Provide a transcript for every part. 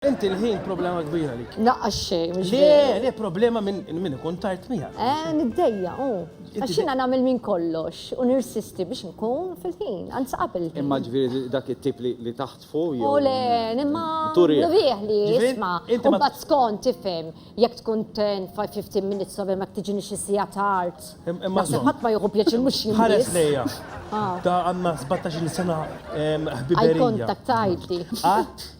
Inti l-ħin problema kbira li. Naqqa xej, mux Le, le, problema minn min ikun tard mija. Eh, niddejja, u. Għaxina namil minn kollox, u nirsisti biex nkun fil-ħin, għanza qabel. Imma ġviri dak it-tip li taħt fuq jew. U le, imma. Turi. Nurieħ li jisma. U bat skont tifem, jek tkun 10-15 minutes sobel ma tiġini xi sija tard. Imma. Ħadd ma jieħu pjaċir mhux jien. Ħares lejja. Ah. Ta' għandna 17 sena ħbiberija. Għaj kontaktajti. Għat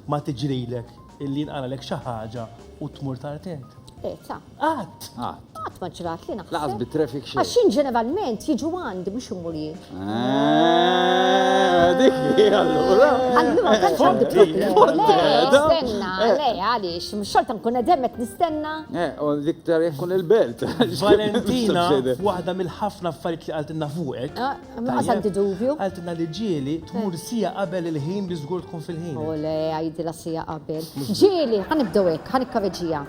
Ma tiġrilek illi jinqalgħalek xi ħaġa u tmur tard int? Eta. Qatt! Qatt. Qatt ma ġrat li naħseb. Laqas bit-traffic xejn. Għax jien ġeneralment jiġu għandi mhux imur jien. Eh, dik hi allura. Allura tant għandi problemi. Nistenna, eh. le għaliex, xorta nkun qegħdem qed nistenna. Eh, u l-iktar jkun il-belt. Valentina, waħda mill-ħafna affarijiet li qaltilna fuqek. Ah. Nuqqas anti dubju. Għaltilna li ġieli tmur sija qabel il-ħin biex żgur tkun fil-ħin. U le, għajdilha sija qabel. Ġieli, ħa nibdew hekk, ħa nikkaveġija.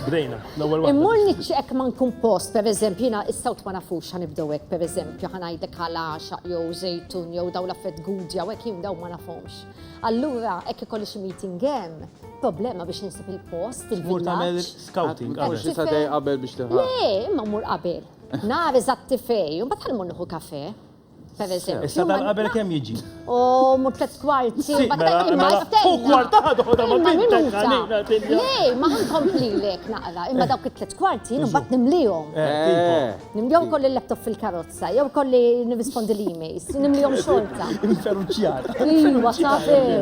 Bdejna, l-ewwel waħda. Immur niċċeqek ma nkun post, pereżempju, jiena is-sawt ma nafux ħa nibdew hekk, pereżempju, ħa ngħidlek ħala għaxaq jew żejtun jew dawn l-affett gudja u hekk jien dawn ma nafhomx. Allura, hekk ikolli xi meeting hemm, problema biex insib il-post, Tmur tagħmel il-villaġġ. scouting qabel. Tmur xi satejn qabel biex tieħu. Le, imma mmur qabel. Nara eżatt tifej, u mbagħad ħalmu nieħu kafe. Issa dan qabel kemm jiġi? U mu tlet kwarti. Mela, mela, u kwarta ħadu da ma bintek Lej, ma ħankompli lek naqra, imma dawk it-tlet kwarti jien mbagħad nimlihom. Eh, eh. Nimlihom kolli l-laptop fil-karozza, jew kolli nirrispondi l-emails, nimlihom xorta. Inferuċjata. Iwa, sabiru.